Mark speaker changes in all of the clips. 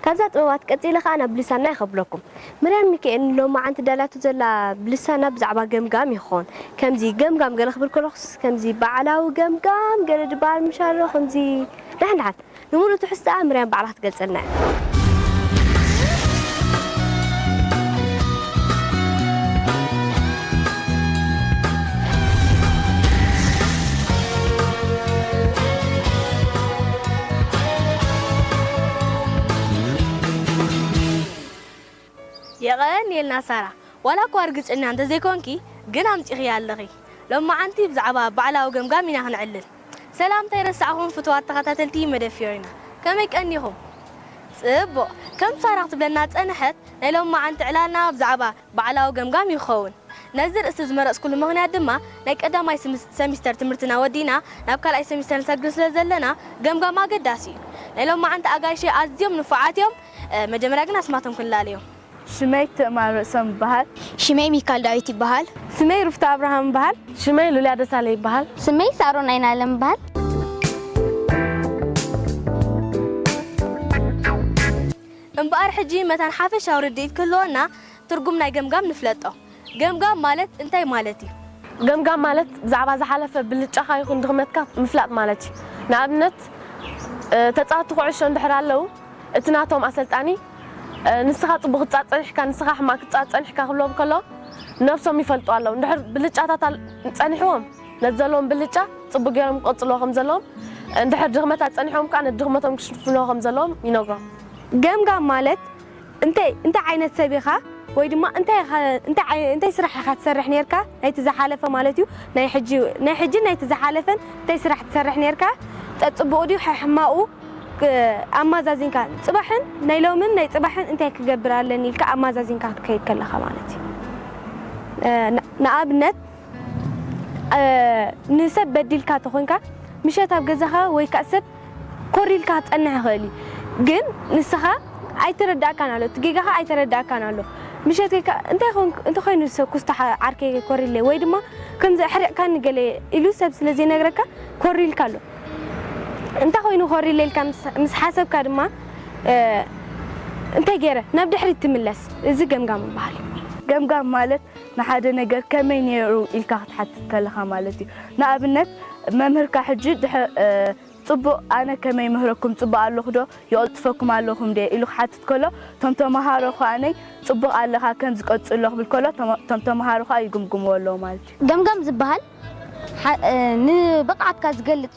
Speaker 1: ካብዛ ጥበባት ቀጺለ ከኣ ናብ ብልሳና ይከብለኩም። ምርያም ሚካኤል ንሎማዓንቲ ዳላቶ ዘላ ብልሳና ብዛዕባ ገምጋም እዩ ክከውን ከምዚ ገምጋም ገለ ክብል ከለኩስ ከምዚ ባዕላዊ ገምጋም ገለ ድባሃል ምሻሎ ከምዚ ዳሓን ዳሓን ንሙሉእ ትሕዝትኣ ምርያም ባዕላ ክትገልጸልና እያ። የቐንየልና ሳራ ዋላ እኳ ርግጸኛ እንተ ዘይኮንኪ ግን ኣምጺኽያ ኣለኺ ሎማዓንቲ ብዛዕባ ባዕላዊ ገምጋም ኢና ክነዕልል ሰላም ከይረሳዕኹም ፍቱዋት ተኸታተልቲ መደብ ፍዮሪና ከመይ ቀኒኹም ጽቡቕ ከም ሳራ ክትብለና ዝጸነሐት ናይ ሎማዓንቲ ዕላልና ብዛዕባ ባዕላዊ ገምጋም ይኸውን። ነዚ ርእስቲ ዝመረጽኩሉ ምኽንያት ድማ ናይ ቀዳማይ ስምስ ሰሚስተር ትምህርትና ወዲእና ናብ ካልኣይ ሰሚስተር ንሰግር ስለ ዘለና ገምጋም ኣገዳሲ እዩ። ናይ ሎማዓንቲ ኣጋይሸይ ኣዝዮም ንፉዓት እዮም። መጀመርያ ግን ኣስማቶም ክንላለዮም። ሽመይ ትእማር
Speaker 2: ርእሶም ይበሃል። ሽመይ ሚካል ዳዊት
Speaker 3: ይበሃል። ሽመይ ሩፍታ ኣብርሃም
Speaker 1: ይበሃል። ሽመይ ሉልያ ደሳለ
Speaker 2: ይበሃል። ሽመይ ሳሮን ኣይናለም
Speaker 3: ይበሃል።
Speaker 1: እምበኣር ሕጂ መታን ሓፈሻዊ ርድኢት ክህልወና ትርጉም ናይ ገምጋም ንፍለጦ። ገምጋም ማለት እንታይ ማለት እዩ? ገምጋም ማለት
Speaker 2: ብዛዕባ ዝሓለፈ ብልጫኻ ይኹን ድኽመትካ ምፍላጥ ማለት እዩ። ንኣብነት ተጻወቲ ኩዕሾ እንድሕር ኣለው እቲ ናቶም ኣሰልጣኒ ንስኻ ጽቡቕ ክትጻወት ጸኒሕካ ንስኻ ሕማቕ ክትጻወት ጸኒሕካ ክብሎም ከሎ ነብሶም ይፈልጡ ኣለው እንድሕር ብልጫታት ጸኒሕዎም፣ ነቲ ዘለዎም ብልጫ ጽቡቕ ገይሮም ክቕጽልዎ ከም ዘለዎም፣ እንድሕር ድኽመት ኣጸኒሖም ከኣ ነቲ ድኽመቶም ክሽፍንዎ ከም ዘለዎም ይነግሮም። ገምጋም
Speaker 1: ማለት እንታይ እንታይ ዓይነት ሰብ ኢኻ ወይ ድማ እንታይ ኢኻ እንታይ እንታይ ስራሕ ኢኻ ትሰርሕ ኔርካ ናይቲ ዝሓለፈ ማለት እዩ ናይ ሕጂ ናይ ሕጂን ናይቲ ዝሓለፈን እንታይ ስራሕ ትሰርሕ ኔርካ ጸጽቡቑ ድዩ ሐሕማቑ ኣማዛዚንካ ጽባሕን ናይ ሎምን ናይ ጽባሕን እንታይ ክገብር ኣለኒ ኢልካ ኣማዛዚንካ ክትከይድ ከለኻ ማለት እዩ ንኣብነት ንሰብ በዲልካ ተኾንካ ምሸት ኣብ ገዛኻ ወይ ክኣ ሰብ ኮር ኢልካ ክትጸንሕ ይኽእል እዩ ግን ንስኻ ኣይተረድኣካን ኣሎ እቲ ጌጋኻ ኣይተረድኣካን ኣሎ ምሸት ጌርካ እንታይ ኮንክ እንታይ ኮይኑ ሰብ ኩስታሕ ዓርከይ ኮር ኢለ ወይ ድማ ከምዚ ኣሕሪቕካኒ ገለ ኢሉ ሰብ ስለ ዘይነግረካ ኮር ኢልካ ኣሎ እንታይ ኮይኑ ኮር ኢለ ኢልካ ምስ ሓሰብካ ድማ እንታይ ጌረ ናብ ድሕሪት ትምለስ እዚ ገምጋም ይብሃል። ገምጋም ማለት
Speaker 2: ንሓደ ነገር ከመይ ነይሩ ኢልካ ክትሓትት ከለኻ ማለት እዩ። ንኣብነት መምህርካ ሕጂ ጽቡቕ ኣነ ከመይ ይምህረኩም ጽቡቕ ኣለኹዶ ይቕልጥፈኩም ኣለኹም ድየ ኢሉ ክሓትት ከሎ እቶም ተመሃሮ ከኣ ጽቡቕ ኣለኻ ከምዚ ቀጽሎ ክብል ከሎ እቶም ተመሃሮ ከኣ ይግምግምዎ ኣለዉ ማለት እዩ። ገምጋም ዝበሃል
Speaker 3: ንብቕዓትካ ዝገልጽ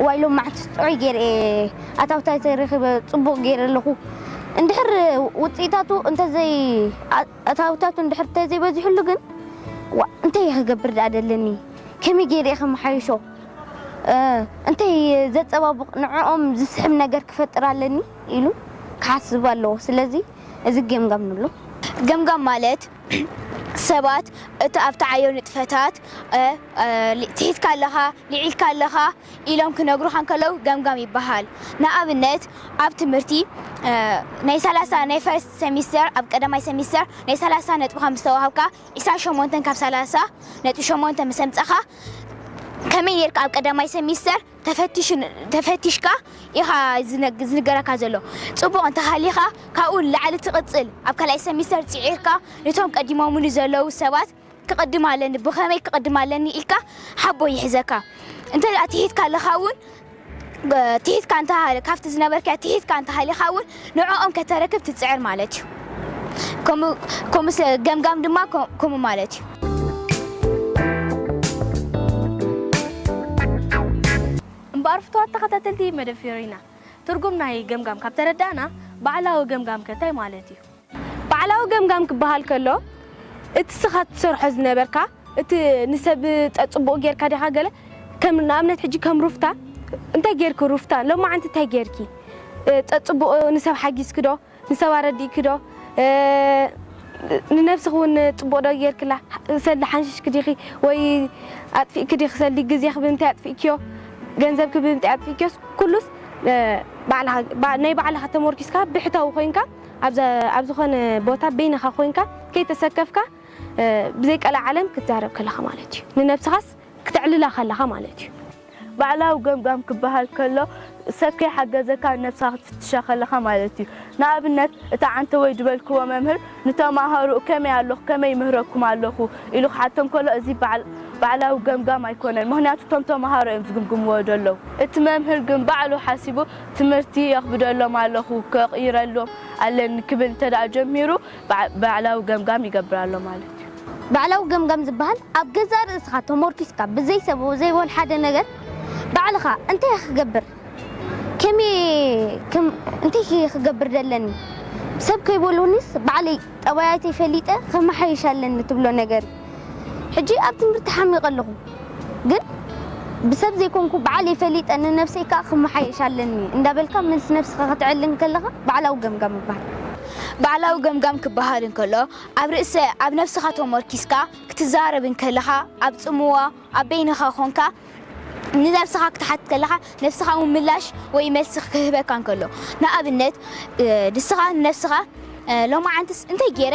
Speaker 3: እዋይ ሎምዓንቲ ጥዑይ ገይረ እየ ኣታዊታይ ተረኪበ ፅቡቅ ገይረ ኣለኩ እንድሕር ውፅኢታቱ እንተዘይ ኣታዊታቱ እንድሕር እንተዘይ በዚሕሉ ግን ዋእ እንታይ እየ ክገብር ድኣ ደለኒ ከመይ ገይረ እየ ከመሓይሾ እንታይ ዘፀባብቅ ንዕኦም ዝስሕብ ነገር ክፈጥር ኣለኒ ኢሉ ክሓስብ ኣለዎ ስለዚ እዚ ገምጋም ንብሎ ገምጋም ማለት ሰባት እቲ ኣብትዓዮ ንጥፈታት ትሒትካ ኣለኻ፣ ልዒልካ ኣለኻ ኢሎም ክነግሩኻ እንከለዉ ገምጋም ይበሃል። ንኣብነት ኣብ ትምህርቲ ናይ ሰላሳ ናይ ፈርስት ሰሚስተር ኣብ ቀዳማይ ሰሚስተር ናይ ሰላሳ ነጥብኻ ምስ ተዋህብካ ዕስራን ሸሞንተን ካብ ሰላሳ ነጥቢ ሸሞንተ ምስ ኣምጻኻ ከመይ ኔርካ ኣብ ቀዳማይ ሰሚስተር ተፈቲሽካ ኢኻ ዝንገረካ ዘሎ ጽቡቕ እንተሃሊኻ ካብኡ ንላዕሊ ትቕጽል ኣብ ካልኣይ ሰሚስተር ጽዒርካ ንቶም ቀዲሞሙኒ ዘለዉ ሰባት ክቕድም ኣለኒ ብኸመይ ክቕድም ኣለኒ ኢልካ ሓቦ ይሕዘካ እንተ ትሒትካ ኣለኻ ውን ትሒትካ እንተ ካብቲ ዝነበርካዮ ትሒትካ እንተሃሊኻ ውን ንዕኦም ከተረክብ ትጽዕር ማለት እዩ። ከምኡ ስለ ገምጋም ድማ ከምኡ ማለት እዩ።
Speaker 1: እምበኣር ፍቱዋት ተኸታተልቲ መደብ ፊዮሪና፣ ትርጉም ናይ ገምጋም ካብ ተረዳእና፣ ባዕላዊ ገምጋም ከ እንታይ ማለት እዩ? ባዕላዊ ገምጋም ክበሃል ከሎ፣ እቲ ስኻ ትሰርሖ ዝነበርካ፣ እቲ ንሰብ ጸ ጽቡቅ ጌርካ ዲኻ ገለ ከም ንኣብነት ሕጂ ከም ሩፍታ እንታይ ጌርኪ ሩፍታ ሎማዓንቲ እንታይ ጌርኪ ጸ ጽቡቅ ንሰብ ሓጊዝኪ ዶ ንሰብ ኣረዲእኪ ዶ
Speaker 2: ንነብስኺ ውን ጽቡቅ ዶ ጌርክላ ሰልዲ ሓንሺሽኪ ዲኺ ወይ ኣጥፊእኪ ዲኺ ሰልዲ ግዜኺ ብምንታይ ኣጥፊእክዮ ገንዘብኪ ብምንታይ ኣጥፊእክዮስ ኩሉስ ባዕልኻ ናይ ባዕልኻ ተሞርኪስካ ብሕታዊ ኮይንካ ኣብ ኣብ ዝኾነ ቦታ በይንኻ ኮይንካ ከይተሰከፍካ ብዘይ ቀልዓ ዓለም ክትዛረብ ከለኻ ማለት እዩ። ንነብስኻስ ክተዕልላ ከለኻ ማለት እዩ። ባዕላዊ
Speaker 4: ገምጋም ክበሃል ከሎ ሰብ ከይሓገዘካ ነብስኻ ክትፍትሻ ከለኻ ማለት እዩ። ንኣብነት እቲ ዓንተቦይ ዝበልክዎ መምህር ንተማሃሮኡ ከመይ ኣለኹ ከመይ ይምህረኩም ኣለኹ ኢሉ ክሓቶም ከሎ እዚ ባዕላዊ ገምጋም ኣይኮነን ምኽንያቱ እቶም ተማሃሮ እዮም ዝግምግምዎ ዘለዉ። እቲ መምህር ግን ባዕሉ ሓሲቡ ትምህርቲ የኽብደሎም ኣለኹ፣ ከቕይረሎም ኣለኒ ክብል እንተድኣ ጀሚሩ፣ ባዕላዊ ገምጋም ይገብር ኣሎ ማለት እዩ። ባዕላዊ ገምጋም
Speaker 3: ዝበሃል ኣብ ገዛእ ርእስኻ ተሞርኪስካ ብዘይ ሰብ ወዘይወል ሓደ ነገር ባዕልኻ እንታይ እየ ክገብር ከመይ እንታይ እየ ክገብር ደለኒ ሰብ ከይበሉኒስ ባዕለይ ጠባያተይ ፈሊጠ ከመሓይሽ ኣለኒ ትብሎ ነገር እዩ። ሕጂ ኣብ ትምህርቲ ሓሚቀ ኣለኹ ግን ብሰብ ዘይኮንኩ ብዓለይ ፈሊጠ ንነብሰይ ከኣ ክመሓየሽ ኣለኒ እንዳበልካ መልሲ ነብስኻ ከተዕሊ እንከለኻ ባዕላዊ ገምጋም ይበሃል። ባዕላዊ
Speaker 5: ገምጋም ክበሃል እንከሎ ኣብ ርእሰ ኣብ ነብስኻ ተሞርኪስካ ክትዛረብ እንከለኻ ኣብ ጽምዋ ኣብ በይንኻ ኮንካ ንነብስኻ ክትሓትት ከለኻ ነብስኻ ውን ምላሽ ወይ መልሲ ክህበካ እንከሎ ንኣብነት ንስኻ ንነብስኻ ሎማዓንትስ እንታይ ጌረ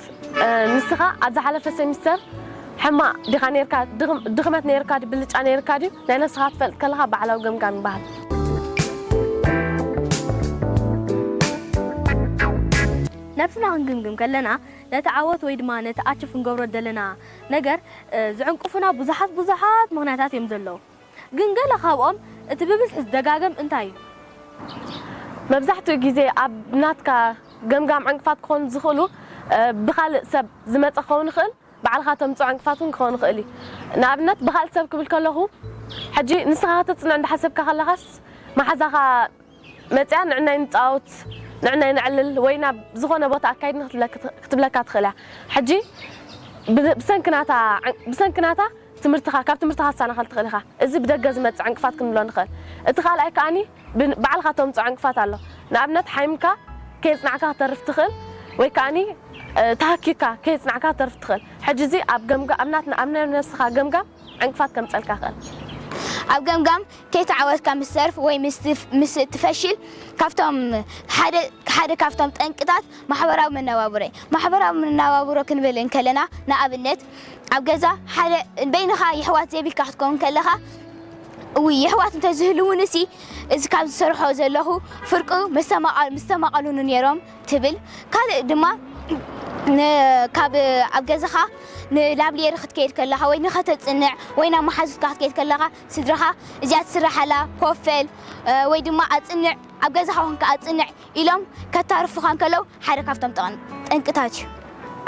Speaker 2: ምህረት ንስኻ ኣብ ዝሓለፈ ሰሚስተር ሕማቅ ዲኻ ነርካ ድኽመት ነርካ ድዩ ብልጫ ነርካ ድዩ ናይ ነብስኻ ክትፈልጥ ከለኻ ባዕላዊ ገምጋም ይባሃል።
Speaker 1: ነብስና ክንግምግም ከለና ነቲ ዓወት ወይ ድማ ነቲ ኣችፍ ክንገብሮ ዝደለና ነገር ዝዕንቅፉና ብዙሓት ብዙሓት ምኽንያታት እዮም ዘለዉ። ግን ገለ ካብኦም እቲ ብብዝሒ ዝደጋገም እንታይ እዩ?
Speaker 2: መብዛሕትኡ ግዜ ኣብ ናትካ ገምጋም ዕንቅፋት ክኾኑ ዝኽእሉ ብኻልእ ሰብ ዝመጸ ክኸውን ይኽእል፣ ባዕልኻ ተምጽኦ ዕንቅፋት እውን ክኸውን ይኽእል እዩ። ንኣብነት ብኻልእ ሰብ ክብል ከለኹ ሕጂ ንስኻ ከተጽንዕ እንዳሓሰብካ ከለኻስ መሓዛኻ፣ መጺኣ ንዕናይ ንጻወት ንዕናይ ነዕልል ወይ ናብ ዝኾነ ቦታ ኣካይድኒ ክትብለካ ትኽእል እያ ሕጂ ብሰንኪ ናታ ብሰንኪ ናታ ትምህርትኻ ካብ ትምህርትኻ ትሳናኸል ትኽእል ኢኻ እዚ ብደገ ዝመጽእ ዕንቅፋት ክንብሎ ንኽእል እቲ ካልኣይ ከኣኒ ባዕልኻ ተምጽኦ ዕንቅፋት ኣሎ ንኣብነት ሓይምካ ከየጽናዕካ ክተርፍ ትኽእል ወይ ከኣኒ ተሃኪካ ከየጽናዕካ ክተርፍ ትኽእል ሕጂ እዚ ኣብ ገምጋ ኣብ ናትና ኣብ ናይ ነብስኻ ገምጋም ዕንቅፋት ከምጸልካ ይኽእል። ኣብ
Speaker 5: ገምጋም ከይተዓወትካ ምስ ትተርፍ ወይ ምስ እትፈሽል ካብቶም ሓደ ሓደ ካብቶም ጠንቅታት ማሕበራዊ መነባብሮ እዩ። ማሕበራዊ መነባብሮ ክንብል እንከለና ንኣብነት ኣብ ገዛ ሓደ በይንኻ የሕዋት ዘይብልካ ክትከውን ከለኻ እውይ የሕዋት እንተዝህልዉንሲ እዚ ካብ ዝሰርሖ ዘለኹ ፍርቁ መስተማቐ ምስተማቐሉኒ ኔሮም ትብል ካልእ ድማ ን ካብ ኣብ ገዛኻ ንላብሊየሪ ክትከይድ ከለኻ ወይ ንኸተጽንዕ ወይ ናብ መሓዙትካ ክትከይድ ከለኻ ስድራኻ እዚኣ ትስራሕ ኣላ ኮፍ በል ወይ ድማ ኣጽንዕ ኣብ ገዛኻ ኮንካ ኣጽንዕ ኢሎም ከታርፉኻ እንከለዉ ሓደ ካብቶም ጠንቅታት እዩ።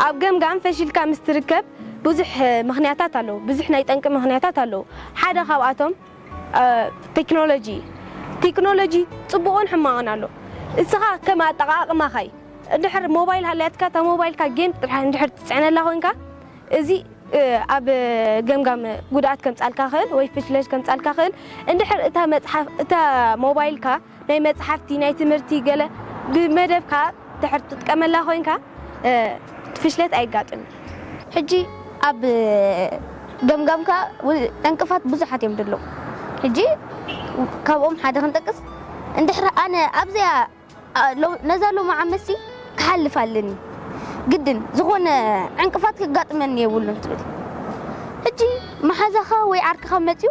Speaker 5: ኣብ ገምጋም
Speaker 2: ፈሺልካ ምስ ትርከብ ብዙሕ ምኽንያታት ኣለዉ ብዙሕ ናይ ጠንቂ ምኽንያታት ኣለዉ ሓደ ካብኣቶም። ቴክኖሎጂ ቴክኖሎጂ ጽቡቕን ሕማቕን ኣሎ እስኻ ከም ኣጠቓቕማኻ እዩ እንድሕር ሞባይል ሃልያትካ እታ ሞባይልካ ጌም ጥራሕ እንድሕር ትጽዕነላ ኮንካ እዚ ኣብ ገምጋም ጉድኣት ከምጽኣልካ ይኽእል ወይ ፍሽለት ከምጽኣልካ ይኽእል እንድሕር እታ መጽሓፍ እታ ሞባይልካ ናይ መጽሓፍቲ ናይ ትምህርቲ ገለ ብመደብካ ድሕር ትጥቀመላ ኮይንካ ፍሽለት ኣይጋጥም እዩ። ሕጂ
Speaker 3: ኣብ ገምጋምካ ዕንቅፋት ብዙሓት እዮም ድለው ሕጂ ካብኦም ሓደ ክንጠቅስ እንድሕር ኣነ ኣብዚኣ ነዛ ሎሚ ዓመትሲ ክሓልፍ ኣለኒ ግድን ዝኾነ ዕንቅፋት ከጋጥመኒ የብሉን ትብል ሕጂ መሓዛኻ ወይ ዓርክኻ መጽዩ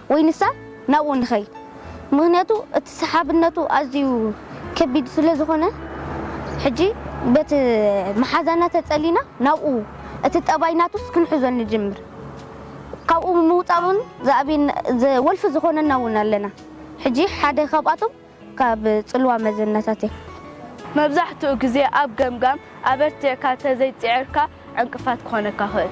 Speaker 3: ወይ ንሳ ናብኡ ንኸይድ ምኽንያቱ እቲ ሰሓብነቱ ኣዝዩ ከቢድ ስለ ዝኾነ ሕጂ በቲ መሓዛና ተጸሊና ናብኡ እቲ ጠባይ ናቱስ ክንሕዞ ንጅምር ካብኡ ምውጻእ ውን ዝኣብየና ወልፊ ዝኾነና ውን ኣለና ሕጂ ሓደ ካብኣቶም ካብ ጽልዋ መዘናታት እዮም። መብዛሕትኡ
Speaker 4: ግዜ ኣብ ገምጋም ኣበርቲዕካ እንተዘይጽዒርካ ዕንቅፋት ክኾነካ ይኽእል።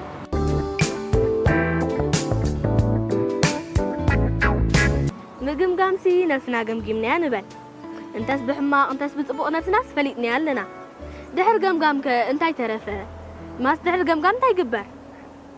Speaker 1: ምግምጋምሲ ነብስና ገምጊምናያ ንበል። እንተስ ብሕማቕ እንተስ ብጽቡቕ ነብስናስ ፈሊጥናያ ኣለና። ድሕሪ ገምጋምከ እንታይ ተረፈ? ማስ ድሕሪ ገምጋም እንታይ ይግበር?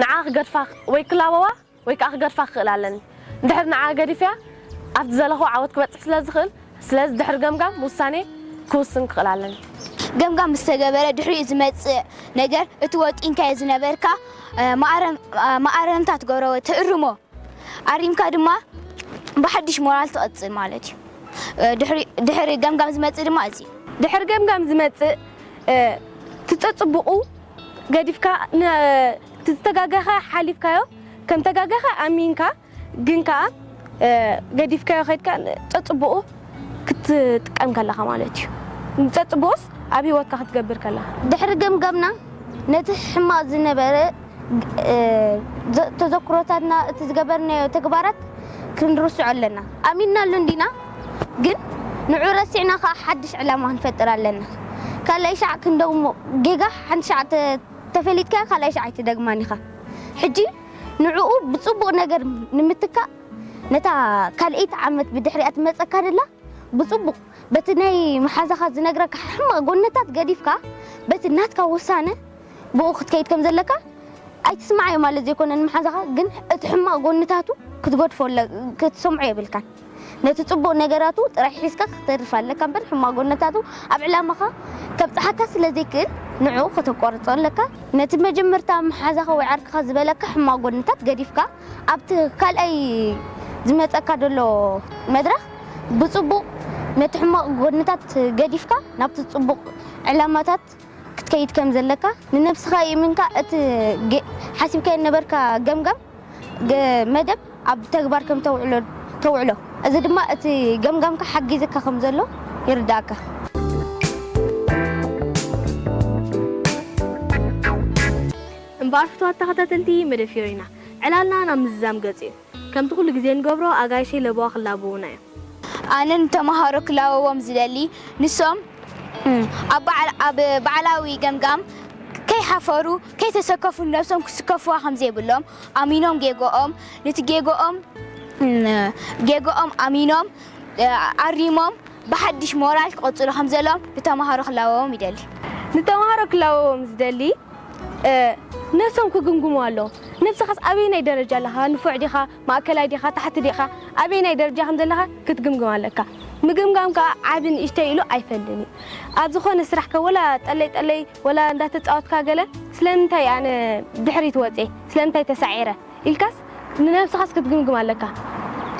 Speaker 2: ንዓ ክገድፋ ወይ ክላበዋ ወይ ከኣ ክገድፋ ክኽእላ ኣለኒ። እንድሕር ንዓ ገዲፈያ ኣብቲ ዝደለኽዎ ዓወት ክበጽሕ ስለ ዝኽእል፣ ስለዚ ድሕሪ ገምጋም ውሳኔ ክውስን ክኽእል ኣለኒ። ገምጋም ምስ
Speaker 5: ተገበረ ድሕሪኡ ዝመጽእ ነገር እቲ ወጢንካዮ ዝነበርካ መኣረምታ ትገብሮ ወይ ትእርሞ። ኣሪምካ ድማ ብሓድሽ ሞራል ትቕጽል ማለት እዩ። ድሕሪ ድሕሪ ገምጋም ዝመጽእ ድማ እዚ እዩ። ድሕሪ ገምጋም
Speaker 2: ዝመጽእ እቲ ጸጽቡቑ ገዲፍካ ን እቲ ዝተጋገኻ ሓሊፍካዮ ከም ተጋገኻ ኣሚንካ ግን ከኣ ገዲፍካዮ ከድካ ጸጽቡቑ ክትጥቀም ከለኻ ማለት እዩ። ንጸጽቡቑስ ኣብ ሂወትካ ክትገብር ከለኻ። ድሕሪ ገምጋምና
Speaker 3: ነቲ ሕማቕ ዝነበረ ተዘክሮታትና እቲ ዝገበርናዮ ተግባራት ክንርስዖ ኣለና። ኣሚንናሉ እንዲና ግን ንዑ ረሲዕና ከኣ ሓድሽ ዕላማ ክንፈጥር ኣለና። ካልኣይ ሻዕ ክንደግሞ ጌጋ ሓንቲ ሻዕ እንተ ተፈሊጥካያ ካልኣይ ሻዕ ኣይትደግማን ኢኻ። ሕጂ ንዕኡ ብጽቡቕ ነገር ንምትካእ ነታ ካልኣይቲ ዓመት ብድሕሪኣ ትመጸካ ዘላ ብጽቡቕ በቲ ናይ መሓዛኻ ዝነግረካ ሕማቕ ጎነታት ገዲፍካ በቲ ናትካ ውሳነ ብእኡ ክትከይድ ከም ዘለካ ኣይትስምዓዮ ማለት ዘይኮነ ንመሓዛኻ ግን እቲ ሕማቕ ጎንታቱ ክትገድፎ ክትሰምዖ የብልካን ነቲ ጽቡቕ ነገራቱ ጥራይ ሒዝካ ክትተርፍ ኣለካ እምበር ሕማቕ ጎንታቱ ኣብ ዕላማኻ ከብጽሓካ ስለ ዘይክእል ንዕኡ ከተቋርጾ ኣለካ ነቲ መጀመርታ መሓዛኻ ወይ ዓርክኻ ዝበለካ ሕማቕ ጎንታት ገዲፍካ ኣብቲ ካልኣይ ዝመጸካ ዘሎ መድረኽ ብጽቡቕ ነቲ ሕማቕ ጎንታት ገዲፍካ ናብቲ ጽቡቕ ዕላማታት ክትከይድ ከም ዘለካ ንነብስኻ ይእምንካ እቲ ሓሲብካዮ ዝነበርካ ገምጋም መደብ ኣብ ተግባር ከም ተውዕሎ እዚ ድማ እቲ ገምጋምካ ሓጊዝካ ከም ዘሎ ይርድኣካ።
Speaker 1: እምበኣር ፍትዋት ተኸታተልቲ መደብ ፊዮሪና ዕላልና ናብ ምዝዛም ገጹ እዩ። ከምቲ ኩሉ ግዜ እንገብሮ ኣጋይሸይ ለበዋ ክላበዉና እዮም። ኣነ
Speaker 5: ንተመሃሮ ክላበዎም ዝደሊ ንሶም ኣብ ባዕላዊ ገምጋም ከይሓፈሩ ከይተሰከፉ ንነብሶም ክስከፍዋ ከምዘይብሎም ኣሚኖም ጌጎኦም ንቲ ጌጎኦም ጌጎኦም ኣሚኖም ኣሪሞም ብሓድሽ ሞራል ክቅጽሉ ከምዘለዎም ንተመሃሮ ክላበዎም ይደሊ። ንተመሃሮ
Speaker 2: ክላበዎም ዝደሊ ነቶም ክግምግሙ ኣለዎም። ንስኻስ ኣበየናይ ደረጃ ኣለኻ? ንፉዕ ዲኻ? ማእከላይ ዲኻ? ታሕቲ ዲኻ? ኣበየናይ ደረጃ ከም ዘለኻ ክትግምግም ኣለካ። ምግምጋም ከኣ ዓቢ ንእሽተይ ኢሉ ኣይፈልን እዩ። ኣብ ዝኾነ ስራሕካ ወላ ጠለይ ጠለይ ወላ እንዳተጻወትካ ገለ ስለምንታይ ኣነ ድሕሪት ወጼ? ስለምንታይ ተሳዒረ? ኢልካስ ንነብስኻስ ክትግምግም ኣለካ።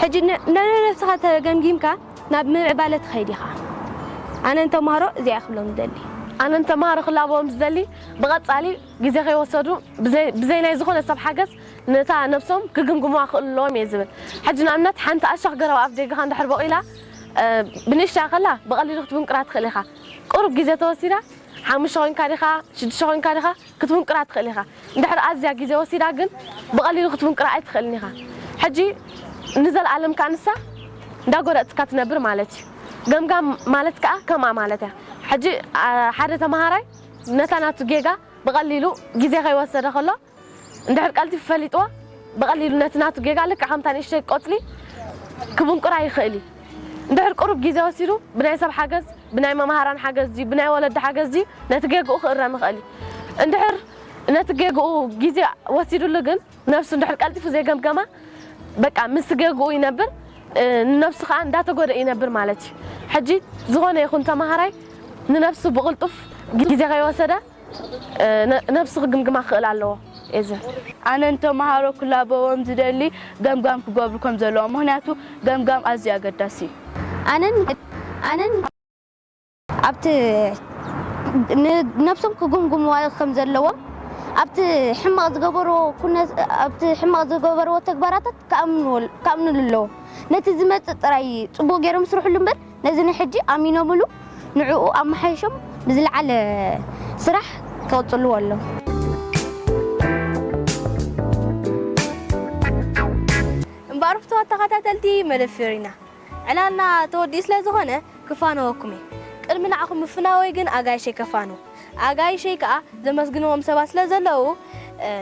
Speaker 2: ሕጂ ንነብስኻ ተገምጊምካ፣ ናብ ምምዕባለ ትኸይድ ኢኻ። ኣነ ንተማሃሮ እዚኣ እየ ክብሎም ዝደሊ። ኣነ ንተማሃሮ ክላበዎም ዝደሊ፣ ብቐጻሊ ግዜ ከይወሰዱ ብዘይ ብዘይ ናይ ዝኾነ ሰብ ሓገዝ ነታ ነብሶም ክግምግሙዋ ክኽእሉ ኣለዎም እየ ዝብል። ሕጂ ንኣብነት ሓንቲ ኣሻኽ ገረብ ኣፍ ደገኻ እንድሕር ቦቒላ ብንእሽተያ ከላ ብቐሊሉ ክትብንቁራ ትኽእል ኢኻ። ቁሩብ ግዜ ተወሲዳ ሓሙሽተ ኮይንካ ዲኻ ሽዱሽተ ኮይንካ ዲኻ ክትፍንቅራ ትኽእል ኢኻ። እንድሕር ኣዝያ ግዜ ወሲዳ ግን ብቐሊሉ ክትፍንቅራ ኣይትኽእልን ኢኻ። ሕጂ ንዘልኣለም ከኣ ንሳ እንዳ ጎረጽካ ትነብር ማለት እዩ። ገምጋም ማለት ከኣ ከምኣ ማለት እያ። ሕጂ ሓደ ተመሃራይ ነታ ናቱ ጌጋ ብቐሊሉ ግዜ ከይወሰደ ከሎ እንድሕር ቀልጢፉ ፈሊጥዋ ብቐሊሉ ነቲ ናቱ ጌጋ ልክዕ ከምታ ንእሽተይ ቆጽሊ ክፍንቁራ ይኽእል እዩ። እንድሕር ቅሩብ ግዜ ወሲዱ ብናይ ሰብ ሓገዝ፣ ብናይ መማህራን ሓገዝ ድዩ ብናይ ወለዲ ሓገዝ ድዩ ነቲ ጌግኡ ክእረም ይኽእል እዩ። እንድሕር ነቲ ጌግኡ ግዜ ወሲድሉ ግን ነብሱ እንድሕር ቀልጢፉ ዘይገምገማ በቃ ምስቲ ጌግኡ ይነብር ንነብሱ ከኣ እንዳተጎድኤ ይነብር ማለት እዩ። ሕጂ ዝኾነ ይኹን ተማሃራይ ንነብሱ ብቕልጡፍ ግዜ ከይወሰደ፣ ነብሱ ክግምግማ ክኽእል ኣለዎ ኤዘን። ኣነ ንተማሃሮ
Speaker 4: ክላበዎም ዝደሊ ገምጋም ክገብሩ ከም ዘለዎም ምኽንያቱ ገምጋም ኣዝዩ ኣገዳሲ እዩ። ኣነ
Speaker 3: ኣብቲ ነብሶም ክግምግምዋ ከም ዘለዎም ኣብቲ ሕማቕ ዝገበርዎ ኩነት ኣብቲ ሕማቕ ዝገበርዎ ተግባራታት ክኣምንሉ ኣለዎም ነቲ ዝመጽእ ጥራይ ጽቡቕ ጌሮም ይስርሕሉ እምበር ነዚ ንሕጂ ኣሚኖምሉ ንዕኡ ኣመሓይሾም ብዝለዓለ ስራሕ ክቕጽልዎ ኣሎም።
Speaker 1: እምበኣር ፍቱዋት ተኸታተልቲ መደብ ፍዮሪና፣ ዕላልና ተወዲኡ ስለ ዝኾነ ክፋነወኩም እየ። ቅድሚ ንዓኹም ምፍናወይ ግን ኣጋይሸይ ከፋንው። ኣጋይሸይ ከኣ ዘመስግንዎም ሰባት ስለ ዘለዉ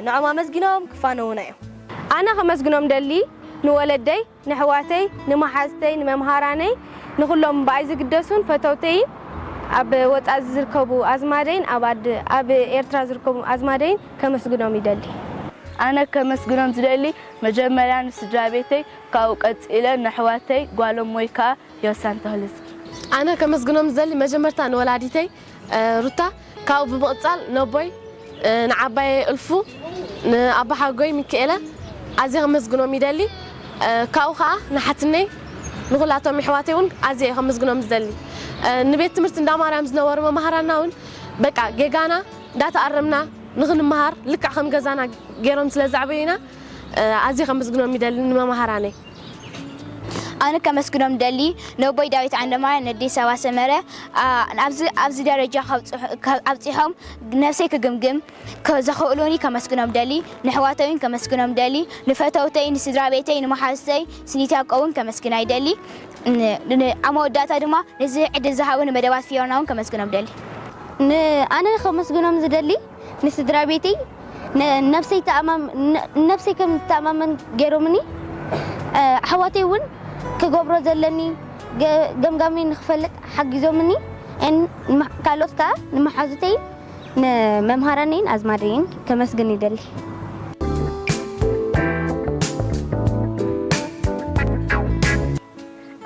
Speaker 1: ንዖም ኣመስጊኖም ክፋነዉና እዮም። ኣነ ከመስግኖም
Speaker 2: ደሊ ንወለደይ፣ ነሕዋተይ ንመሓዝተይ ንመምሃራነይ ንኹሎም ብኣይ ዝግደሱን ፈተውተይን ኣብ ወጻኢ ዝዝርከቡ ኣዝማደይን ኣብ ኣድ ኣብ ኤርትራ ዝርከቡ ኣዝማደይን ከመስግኖም ይደሊ። ኣነ
Speaker 4: ከመስግኖም ዝደሊ መጀመርያ ንስድራቤተይ ካብኡ ቀጺለ ነሕዋተይ ጓሎም ወይ ከኣ ዮሳን ተኽልዝጊ። ኣነ ከመስግኖም
Speaker 2: ዝደሊ መጀመርታ ንወላዲተይ ሩታ ካብኡ ብምቕጻል ነቦይ ንዓባየ እልፉ ንኣቦሓጎይ ሚኪኤለ ኣዝየ ከመስግኖም ይደሊ ካብኡ ከኣ ንሓትነይ ንኹላቶም የሕዋተይ ውን ኣዝየ እየ ከመስግኖም ዝደሊ ንቤት ትምህርቲ እንዳማርያም ዝነበሩ መማህራና ውን በቃ ጌጋና እንዳተኣረምና ንኽንመሃር ልክዕ ከም ገዛና ጌሮም ስለ ዘዕበዩና ኣዝየ ከመስግኖም ይደሊ ንመማህራነይ
Speaker 5: ኣነ ከመስግኖም ደሊ ነቦይ ዳዊት ዓንደማርያ ነዴ ሰባ ሰመረ ኣብዚ ኣብዚ ደረጃ ኣብፂሖም ነብሰይ ክግምግም ዘኽእሉኒ ከመስግኖም ደሊ ንሕዋተይን ከመስግኖም ደሊ ንፈተውተይ ንስድራ ቤተይ ንመሓዙተይ ስኒትያቆውን ከመስግና ይደሊ ኣብ መወዳእታ ድማ ነዚ ዕድል ዝሃቡኒ መደባት ፊዮናውን ከመስግኖም ደሊ ንኣነ
Speaker 3: ከመስግኖም ዝደሊ ንስድራ ቤተይ ነብሰይ ንነብሰይ ከም ዝተኣማመን ገይሮምኒ። ኣሕዋተይ እውን ክገብሮ ዘለኒ ገምጋመይ ንክፈልጥ ሓጊዞምኒ። ካልኦት ከኣ ንመሓዙተይን ንመምሃራነይን ኣዝማደይን ከመስግን ይደሊ።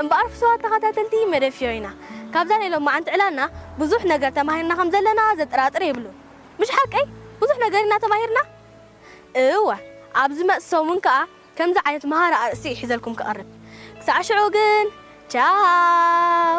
Speaker 1: እምበኣር ፍቱዋት ተኸታተልቲ መደብ ፊዮሪና፣ ካብዛ ናይ ሎማዓንቲ ዕላልና ብዙሕ ነገር ተማሂርና ከም ዘለና ዘጠራጥር የብሉን። ምሽ ሓቀይ? ብዙሕ ነገር ኢና ተማሂርና? እወ። ኣብ ዝመጽእ ሰሙን ከኣ ከምዚ ዓይነት መሃሪ ኣርእስቲ እየ ሒዘልኩም ክቐርብ። ክሳዕ ሽዑ ግን ቻው!